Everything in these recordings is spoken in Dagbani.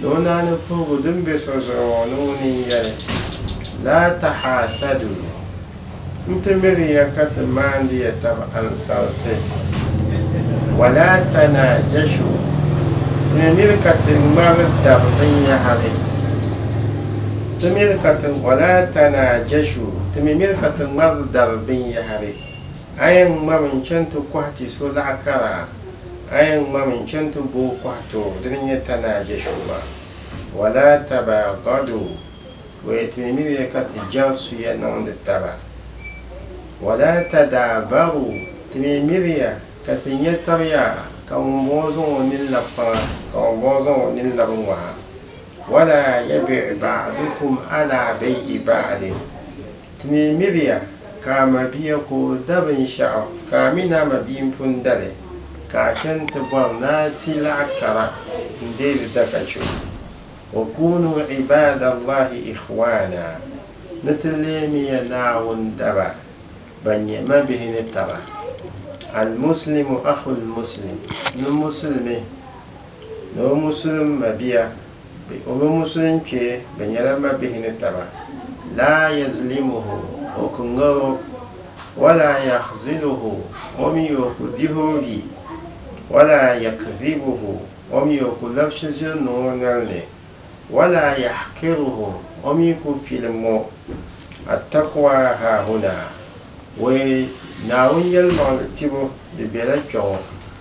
ni o naa ni puhigu din be so zuɣu ŋɔ ni ŋuni n-yɛli, Laa tahaasadu! N ti miri ya ka ti maandi ya tab ansalsi. Walaa tanaajashu! Ti ni miri ka ti ŋmari dab binyɛhiri. Ti miri ka ti, walaa tanaajashu! Ti mi miri ka ti ŋmari dar binyɛhiri. A yɛn ŋmami n-chani ti kɔhi ti so laɣ kara? A yɛn ŋmami n-chani ti bo kɔhi too dini n-nyɛ Tanaa Jɛshua. Wala tabaagadu, o yɛn ti mi miri ya ka ti jɛŋ suya niŋdi taba. Wala tadaabaru, ti mi miri ya ka ti nya tab yaa, ka ŋumbɔŋɔ zaŋ o nini labi kpaŋa, ka ŋumbɔŋɔ zaŋ o nini labi ŋɔha. Wala yabiɣi ba'dukum ala bay'i ba'din. Ti mi miriya ka a mabia ka o da binshɛɣu, ka a mi ni a mabia n-pun da li, ka a chani ti bɔri ni a ti laɣ kara n-deei li da ka chɛ o. Wa kuunu ibaadallaahi ikhwaana, ni ti leemiya Naawuni daba ban nyɛ mabihi ni taba. Al-Muslimu akhul Muslim, ni Musulimi ni o Musulim mabia. Bɛ o mini Musulim kpe bɛ nyɛla mabihi ni taba. Laa yazilimuhu, o ku ŋar o, wala yahziluhu, o mi o ku dih o vi, wala yakdhibuhu, o mi o ku labsi ʒiri niŋ o nol ni, wala yahkiruhu, o mi ku filim o. Attaqwa haahuna, Wee, Naawuni yɛlimaŋli tibu di bela kpɛŋɔ.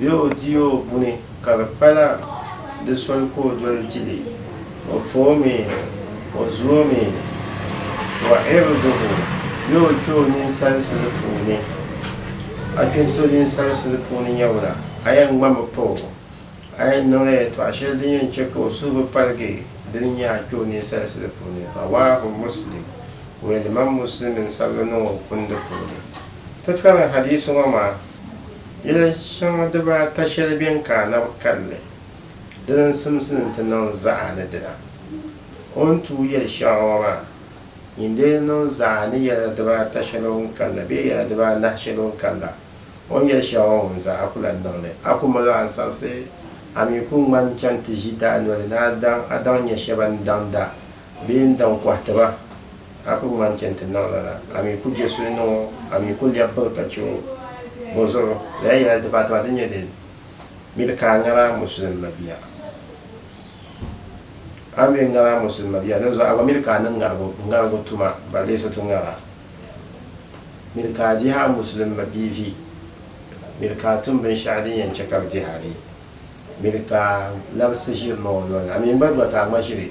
Bɛ o di o buni ka di pala di soli ka o doli di li, o fa o mi, o zu o mi, wa iriduhu, bɛ o kpe o ninsalisili puuni, a kpe so ninsalisili puuni nyawula, a yɛn ŋmami pa o, a yɛn niŋla yɛltɔɣa shɛli din yɛn chɛ ka o suhu bi paligi di ni nyɛ a kpe o ninsalisili puuni, rawaahu Muslim, Wɛliman Muslimi n-sabi li niŋ o kundi puuni. Ti kari hadiisi ŋɔ maa. Yili shɛŋa dibaata shɛli bɛn ka anabi kanli, dini n-simsi ni nti niŋ zaɣa ni dina. O ni tuui yili shɛŋa ŋɔ maa, nyin dee niŋ zaɣa ni yɛla dibaata shɛli o ni kanla bee yɛla dibaanahi shɛli o ni kanla, o ni yɛli shɛŋa ŋɔ ŋun zaa a ku lan niŋ li. A ku mali ansaɣisi, a mi ku ŋmani chani ti ʒi daa noli ni a daŋ a daŋ nya shɛba ni daŋda. Bɛ yi ni daŋ kɔhi ti ba, a ku ŋmani chɛ nti niŋ lala, a mi ku je suli niŋ o, a mi ku lɛbi biŋ ka chɛ o. Bɔzuɣu, lala yɛla dibaata maa di nyɛ din miri ka a ŋari a Muslim mabiya? A mi ŋari a Muslim mabiya, dinzuɣu a gba miri ka a niŋ ŋarigu tuma balle so ti ŋari a. Miri ka a dihi a Muslim mabiyi vi. Miri ka a tum binshɛɣu din yɛn chɛ ka bɛ dihi a vi. Miri ka a labisi ʒiri niŋ o nol ni, a mi gba gba ka a ŋma ʒiri.